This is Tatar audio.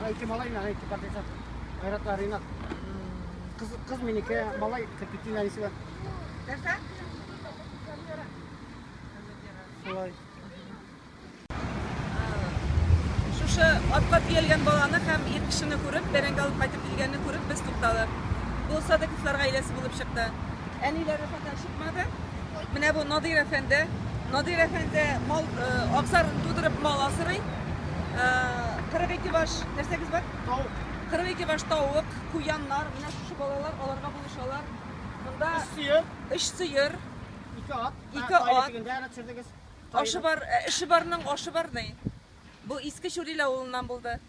Ана ике малай, ана ике партиса. Айратла Ринат. Кыз, кыз минеке, малай, капитин Анисиба. Нәрсә? Шулай. Шушы атка тиелгән баланы һәм ир кешене күреп, бәрәңге алып кайтып килгәнне күреп, без тукталып. Бу Садыковлар гаиләсе булып чыкты. Әниләре фатан чыкмады. Менә бу Надир әфәнде. Надир әфәнде мал э, абзарын тудырып мал асырый. 42 э, баш нәрсәгез бар? Тавык. 42 баш тавык, куяннар, менә шушы балалар аларга булышалар. Монда өч сыер, өч сыер, ике ат, ике ат. Ашы бар, э, эше барның ашы бар ни. Бу иске Чүрил авылыннан булды.